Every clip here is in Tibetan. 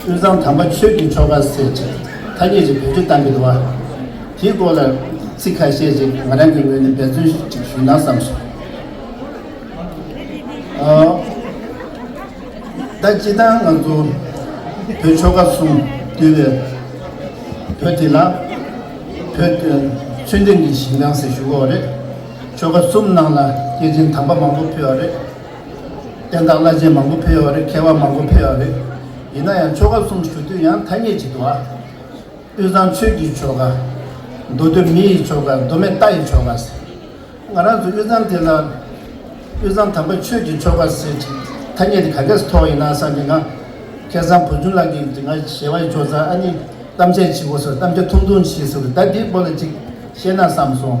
དབུས་གཙང་དམ་པ་ཆོས་ཀྱི་ཆོ་ག་ཟེར་ཅིག་ཐ་སྙད་ཅིག་བེད་སྤྱོད་གཏང་གི་འདུག་བ། དེའི་སྐོར་ལ་ཚིག་ཁ་ཤས་ཅིག་ང་རང་གི་ངོས་ནས་འབད་བརྩོན་ཅིག་ཞུས་ན་བསམ་སོང། ད་སྤྱི་བཏང་ང་ཚོ་བོད་ཆོ་ག་གསུམ་འདུས་པའི་བོད་དེ་ལ་བོད་ཆོས་ལྡན་གྱི་ཞིང་དང་ཟེར་ཞུ་གོ་རེད། ཆོ་ག་གསུམ་ནང་ལ་སྐྱེས་ཆེན་དམ་པ་མང་པོ་ཕུལ་བ་རེད། བསྟན་བདག་བླ་ཆེན་མང་པོ་ཕེབས་ཡོད་རེད་མཁས་པ་མང་པོ་ཕེབས་ཡོད་རེད། ཡིན་ན་ཡང་ཆོ་ག་གསུམ་ཞུ་དུས་ཡང་ཐ་སྙད་ཅིག་འདུག་ཨ། དབུས་གཙང་ཆོས་ཀྱི་ཆོ་ག། མདོ་སྟོད་མི་ཡི་ཆོ་ག་མདོ་སྨད་རྟ་ཡི་ཆོ་ག་ཟེར། ང་རང་ཚོ་དབུས་གཙང་དེ་ལ། དབུས་གཙང་དམ་པ་ཆོས་ཀྱི་ཆོ་ག་ཟེར་ཅིག་ཐ་སྙད་དེ་ག་གེ་སུ་ཐོགས་ཡིན་ན་བསམ་གི་ང། ཁྱེད་ཚང་བུ་ཆུང་ལགས་ཀྱིས་ང་ཞེས་བ་ཅོ་ཙང་ཨ་ནི་གཏམ་འཆལ་བྱེད་དགོས་སོ་གཏམ་འཆལ་ཐུང་ཐུང་བྱེད་ཟེར་བ་ད་འདི་པོ་ལ་ཅིག་བཤད་ན་བསམ་སོང།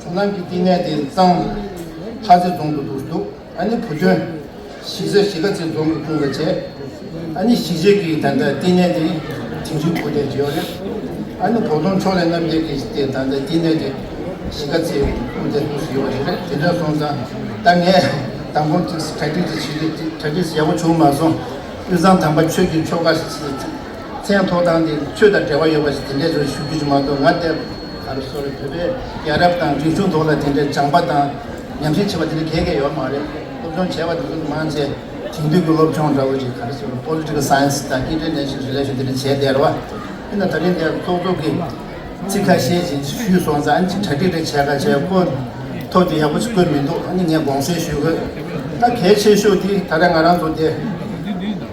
ཁོ་རྣམས་ཀྱི་བསྟི་གནས་དེ་གཙང། ལྷ་རྩེ་རྫོང་དུ་འདུག་འདུག་ཨ་ནི་བུ་ཁྱོད། ཤི་ས་ཤི་ཁ་རྩེ་རྫོང་གི་ཀུན་དགའ་བྱས། ཨ་ནི་ཤི་རྗེས་ཀྱི་ད་ལྟ་བསྟི་གནས་དེ་དེང་ཕྱིན་ཁོ་དེར་བྱོས་རེད། ཨ་ནི་བོགས་གཏོང་ཕྱོགས་ལས་རྣམ་རྒྱལ་གྱིས་དེ་ད་ལྟ་བསྟི་གནས་དེ་ཤི་ཁ་རྩེ་ཀུན་དགའ་དུ་ཞིག་ཡོད་པ་རེད་རེད་དེ་འདྲ་སོང་ཙང་ད་ངས་དང་པོ་གྲ་སྒྲིག་དེ་བྱེད་དགོས་གྲ་སྒྲིག་ཡག་པོ་བྱུང་མ་སོང་དབུས་གཙང་དམ་པ་ཆོས་ཀྱི་ཆོ་ག། མཚན་ཐོག་ཐང་དེ་ཚོས་དང་འབྲེལ་བ་ཡོད་པ་ཞིག་དེ་འདྲས་ཚོར་ཞུ་རྒྱུ་ཅི་མ་གཏོགས་ང་བལྟས། ད་རེས་སོར་རེས་བོད་པའི་ཡ་རབས་དང་རིག་གཞུང་ཐོག་ལ་དེ་འདྲའི་སྦྱངས་པ་དང་ཉམས་ཞིབ་བྱེད་པ་དེ་འདྲ་གལ་གལ་ཡོད་མ་རེད། སློབ་སྦྱོང་བྱས་པ་དེ་ཚོ་མང་ཆེ་དེང་དུས་ཀྱི་སློབ་སྦྱོང་འདྲ་བོ་ཞིག་ད་རེས་སོར་རེས Political Science དང་སྐད་འཕྲིན་ལས་ཞིབ་བྱེད་ལས་ཞུ་དེ་འདྲ་བྱས་བསྡད་རེད་བ། འདི་ན་ད་རེས་འདས་ཙོག་ཙོག་གི་ཚིག་ཁ་ཤས་ཞིག་ཞུས་སོང་ཙང་གཅིག་གྲ་སྒྲིག་རེ་བྱས་ག་བྱས་བཀོད་ཐོག་དེ་ཡག་པོ་ཞིག་བཀོད་མི་འདུག་ཨ་ནི་ངས་དགོངས་སེལ་ཞུས་དགོས། ད་གལ་ཆེ་ཤོས་དེ་ད་རེས་ང་རང་ཚོ་འདས།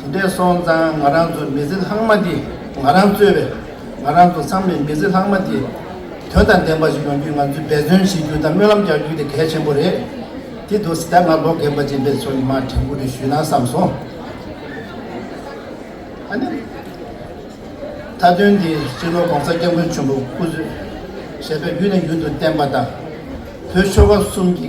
དེ་འདྲའི་སོང་ཙང་ང་རང་ཚོ་མི་ཚེ་ལྷག་མ་འདི་ང་རང་གཙོས་པའི་ང་རང་ཚོ་ཚང་མས་མི་ཚེ་ལྷག་མ་འདི་དོན་དང་ལྡན་པ་ཞིག་ཡོང་རྒྱུའི་ང་ཚོས་འབད་བརྩོན་བྱེད་རྒྱུ་དང་སྨོན་ལམ་རྒྱག་རྒྱུ་དེ་གལ་ཆེན་པོ་རེད་དེ་འདུག་སི་ཏཱ་ང་ལོ་རྒན་པ་ཅན་པའི་ཚོ་ཉི་མ་དྲན་སྐུལ་དེ་ཞུས་ན་བསམ་སོང། ཨ་ནི། མཐའ་དོན་འདི་སྤྱི་ལོ ྋགོང་ས་སྐྱབས་མགོན་ཆེན་པོ་སྐུ་གཟུགས་ཞལ་ཕྱག་རྒྱུད་ནས་རྒྱུན་དུ་བསྟན་པ་དང་བོད་ཆོལ་ཁ་གསུམ་གྱི